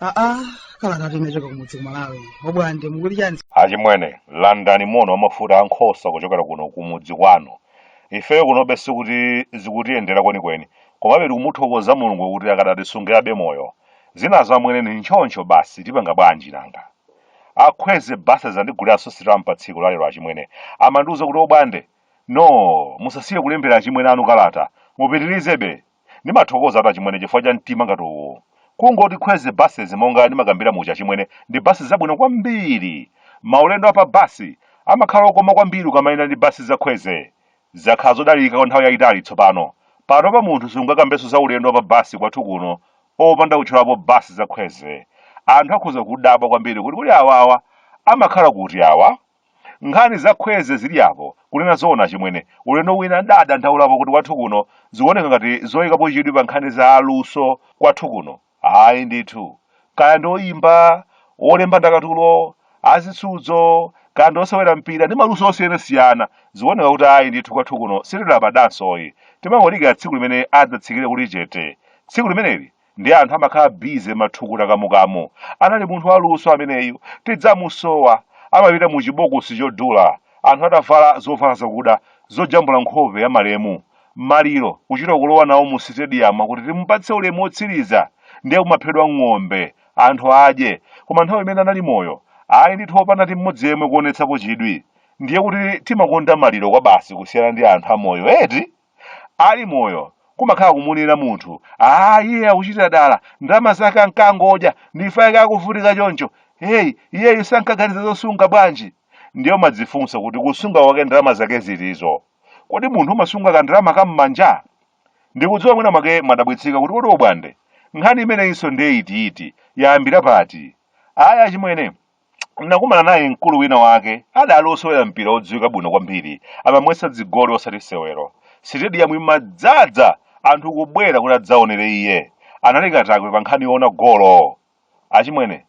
aa kalata yochokera kumudzi ku malawi obwande mukuti chani achimwene landani moni wamafuta ankhosa kuchokera kuno kumudzi kwanu ifeyo kunobe sikuti zikutiyendera kwenikweni komabe tikumuthokoza mulungu kuti akadatisungabe moyo Zinazo amwene ndi ntchoncho basi tipanga bwanji nanga. Akhweze basi azandiguliraso sitamp patsiku lalero achimwene amandiuza kuti obwande noo musasiye kulembera achimwene anu kalata mupitilizebe ndimathokozatu achimwene chifukwa cha mtima ngati uwu kungoti khweze buses monga ndimakambira muja achimwene ndi bus zabwino kwambiri maulendo apa bus amakhala okoma kwambiri ukamayenda ndi bus za khweze Zakhala zodalirika kwa nthawi yaitali tsopano. Panopa munthu sungakambenso za ulendo wa pa basi kwathu kuno opanda kutchulapo basi za khweze. Anthu akhoza kudabwa kwambiri kuti kodi awawa amakhala kuti awa? Nkhani za khweze zili apo, kunena zoona achimwene, ulendo wina ndidadandaulapo kuti kwathu kuno zikuoneka ngati zoikapo chidwi pa nkhani za aluso kwathu kuno. Ayi ndithu. Kaya ndi oyimba, olemba ndakatulo, azisudzo, kaya ndi osewera mpira ndi maluso osiyanasiyana, zikuoneka kuti ayi ndithu kwathu kuno sitilabadansoyi. Timangodikira tsiku limene adzatsikire kuli chete. Tsiku limeneli ndiye anthu amakhala busy mathukuta kamukamu. Anali munthu waluso ameneyu. Tidzamusowa. Amapita mu chibokosi chodula, anthu atavala zovala zakuda zojambula nkhope ya malemu. maliro kuchita kulowa nawo mu sitediyamu kuti timupatse ulemu wotsiriza ndiye kumaphedwa ng'ombe anthu adye koma nthawi imene anali moyo ayi ndithu opanda ti mmodzi yemwe kuonetsapo chidwi ndiye kuti timakonda maliro kwabasi kusiyana ndi anthu amoyo eti ali moyo kumakhala kumunena munthu aa iye akuchitira dala ndalama zake ankangodya n'chifukwa chake akuvutika choncho heyi iyeyu sankaganiza zosunga bwanji ndiye umadzifunsa kuti kusunga kwake ndalama zake zitizo kodi munthu umasunga kandalama ka m'manja ndikudziwa mwina mwake mwadabwitsika kuti kodi obwande nkhani imeneyinso ndiye itiiti yayambira pati ayi achimwene nakumana naye mkulu wina wake adali osewera mpira odziwika bwino kwambiri amamwetsa zigoli osati masewero sitediyamu imadzadza anthu kubwera kuti adzaonere iye anali katakwe pa nkhani yoona golo achimwene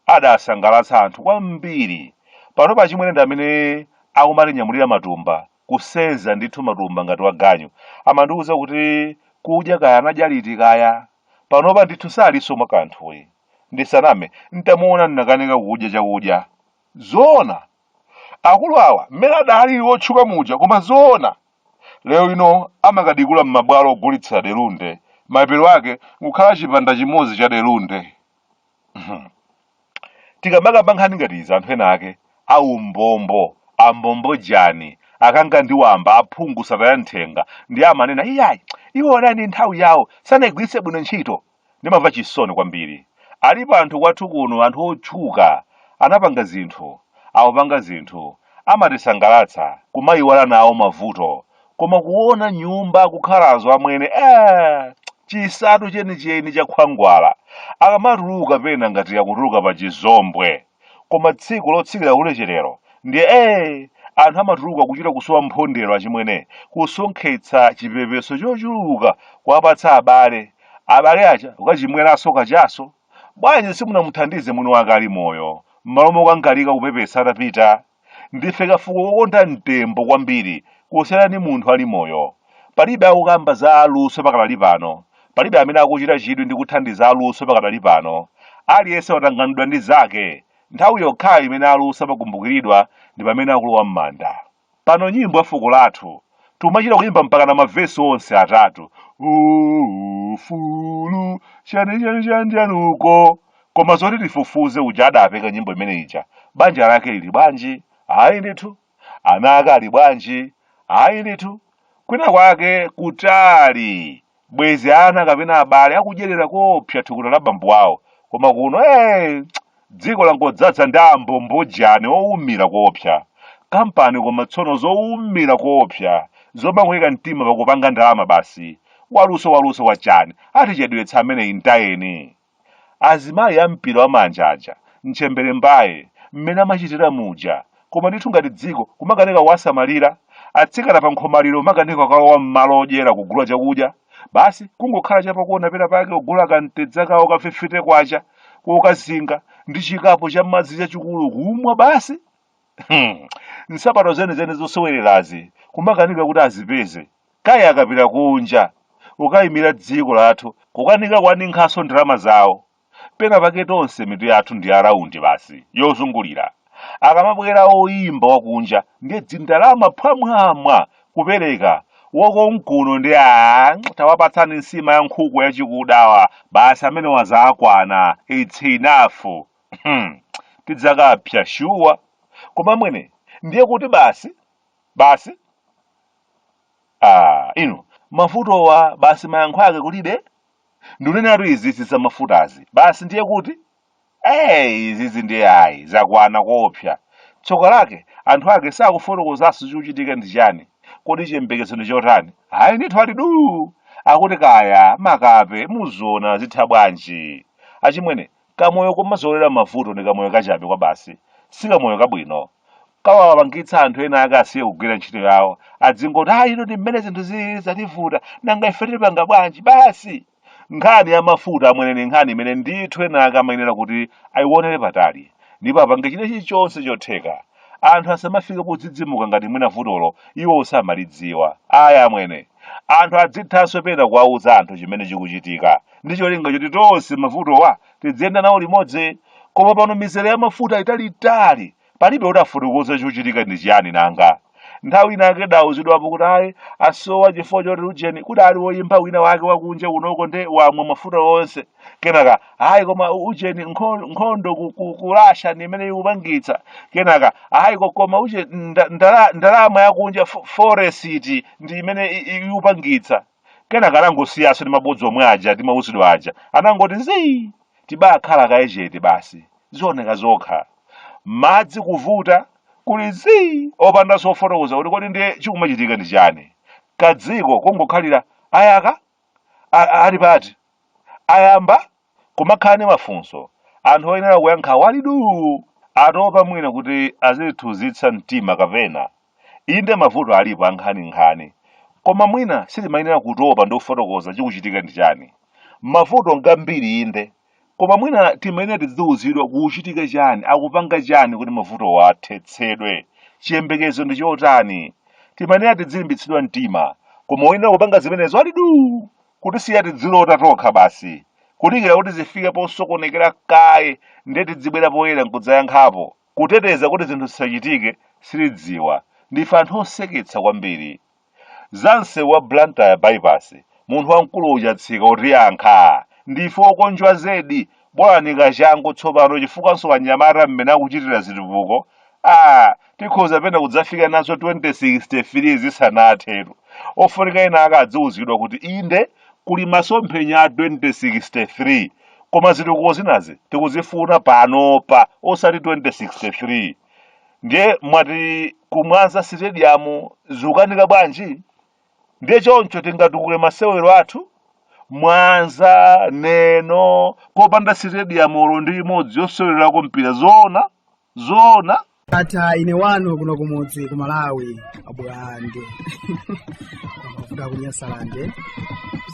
adasangalatsa anthu kwambiri. Panopa achimwene ndi amene akumatinyamulira matumba, kusenza ndithu matumba ngati waganyu. Amandiuza kuti kudya kaya anadya liti kaya? Panopa ndithu salinso mwa kanthuyi. Ndisaname, n'tamuona nnakanika kudya chakudya. Zoona? Akulu awa mmene adalili otchuka muja koma zoona! Lero lino amakadikula m'mabwalo ogulitsa delunde, malipiro ake nkukhala chipanda chimodzi cha delunde. Mhm. tikamakamba nkhani ngati izi anthu ena ake aumbombo ambombojani akanga ndi wamba aphungu sataya nthenga ndiye amanena iyayi iwo anali ndi nthawi yawo sanayigwiritse bwino ntchito ndimamva chisoni kwambiri alipo anthu kwathu kuno anthu otchuka anapanga zinthu akupanga zinthu amatisangalatsa kumayiwala nawo mavuto koma kuona nyumba akukhalazo amwene eh, chisatu chenicheni cha khwangwala akamatuluka pena ngati akutuluka pa chizombwe koma tsiku lotsikira kulecherero ndiye eh, anthu amatuluka kuchita kusowa popondera achimwene kusonkhetsa chipepeso chochuluka kuwapatsa abale abale aja ukachimweranso kachaso bwanji simunamuthandize mwini wake ali moyo m'malo mokangalika kupepesa atapita Ndife kafuko kokonda mtembo kwambiri kusiyana ndi munthu ali moyo. Palibe akukamba za aluso pakadali pano. Palibe amene akuchita chidwi ndi kuthandiza aluso pakadali pano. Aliyense watanganidwa ndi zake. Nthawi yokhayo imene aluso amakumbukiridwa ndi pamene akulowa m'manda. Pano nyimbo ya fuko lathu tikumachita kuyimba mpakana mavesi onse atatu. Ufulu chani chani chani chani uko koma zoti tifufuze uja adapeka nyimbo imene ija banja lake lili bwanji ayi ndithu ana ake ali bwanji ayi ndithu kwina kwake kutali bwezi ana kapena abale akudyerera kopsa thukuta la bambo wawo koma kuno hey, dziko langodzaza ndi ambombojani owumira kopsa kampani koma tsono zowumira kopsa zomangoyika mtima pakupanga ndalama basi waluso waluso wachani atichedwetsa amene mtayeni Azimayi a mpira wa manja aja, ntchembere mbaye, mmene amachitira muja? Koma ndithu ngati dziko kumakanika kuwasamalira? Atsikana pa nkhomaliro kumakanika kukalowa mmalo odyera kugula chakudya? Basi kungokhala cha pakona pena pake kugula ka mtedza kawo ka K50 kokazinga ndi chikapu cha madzi chachikulu kumwa basi? Hmm. Nsapato zenizeni zosewererazi kumakanika kuti azipeze. Kaya akapita kunja kukayimira dziko lathu kukanika kuwaninkhanso ndalama zawo. Pena pake tonse mitu yathu ndi ya round basi, yozungulira. Akamabwera oyimba wakunja ndiye dzindalama phwamwamwa kupereka, wakonkuno ndiye aah tawapatsani nsima ya nkhuku yachikuda awa, basi amenewa zawakwana, it's enough. Tidzakapsya shuwa. Koma amwene, ndiye kuti basi? basi ah, inu mafutawa basi mayankho ake kulibe ndikunenatu izizi za mafutazi basi ndiye kuti eyi izizi ndiye ayi zakwana koopsa tsoka lake anthu ake sakufotokozanso chikuchitika ndi chani kodi chiyembekezo ndi chotani ayi ndithu ali duu akuti kaya makape muziona zitha bwanji achimwene Kamoyo komazolowera mavuto ndi kamoyo kachabe kwabasi, si kamoyo kabwino. Kawapangitsa anthu ena ake asiye kugwira ntchito yawo, adzingoti ah ino ndi mmene zinthu zilili zativuta, nanga ife tipanga bwanji? Basi! Nkhani ya mafuta amwene ndi nkhani imene ndithu ena ake amayenera kuti aionere patali, ndipo apange china chilichonse chotheka anthu asamafike podzidzimuka ngati mwina vutolo iwowo samalidziwa ayi amwene anthu adzithanso pena kuwauza anthu chimene chikuchitika ndi cholinga choti tonse mavutowa tidziyenda nawo limodzi koma pano mizere ya mafuta italiitali palibe oti afotokoze chikuchitika ndi chiyani nanga nthawi inaake tidauzidwapo kuti ayi asowa chifukwa choti ujeni kudali woyimba wina wake wakunja kunoko nde wamwa mafuta onse kenaka ayi koma u- ujeni nkho- nkhondo ku- ku- ku russia ndi imene ikupangitsa kenaka ayi ko- koma uje nda- ndala- ndalama yakunja fo- foresiti ndi imene i- i- ikupangitsa kenaka anangosiyaso ndi mabodza omwe aja timauzidwa aja anangoti zii tibakhala kaye chete basi zioneka zokha madzi kuvuta kuli zii opanda zofotokoza kuti kodi ndiye chikumachitika ndi chani kadziko kungokhalira ayaka a- a- ali pati Ayamba kumakhala ndi mafunso, anthu oyenera kuyankhawo ali duu, atopa mwina kuti azitithunzitsa mtima kapena. Inde mavuto alipo ankhaninkhani, koma mwina sitimayenera kutopa ndi kufotokoza chikuchitika ndi chani. Mavuto ngambiri inde, koma mwina timayenera tidziuzidwa kukuchitika chani, akupanga chani kuti mavutowo athetsedwe, chiyembekezo ndi chotani. Timayenera tidzilimbitsidwa mtima, koma oyenera kupanga zimenezo ali duu. kutisiya tidzilota tokha basi kudikira kuti zifike posokonekera kaye ndiye tidzibwera poyera nkudzayankhapo kuteteza kuti zinthu zisachitike sitidziwa ndife anthu oseketsa kwambiri za msewu wa blantyre bypass munthu wamkulu uja tsika utiyankha ndife okonjwa zedi bolani kachangu tsopano chifukwanso wanyamata mmene akuchitira zitukuko ah tikhoza pena kudzafika nazo 2063 zisanathetu ofunika ena ake adziwuzidwa kuti inde kuli masomphenya a 2063 koma zitukuko zinazi tikuzifuna panopa osati 2063 ndiye mwati ku mwanza sitediyamu zikukanika bwanji ndiye choncho tingatukule masewero athu mwanza neno popanda sitediyamu olo ndi imodzi yosewererako mpira zoona zoona ndatha ine wanu kuno kumudzi ku malawi a bwande kuda kunyasalande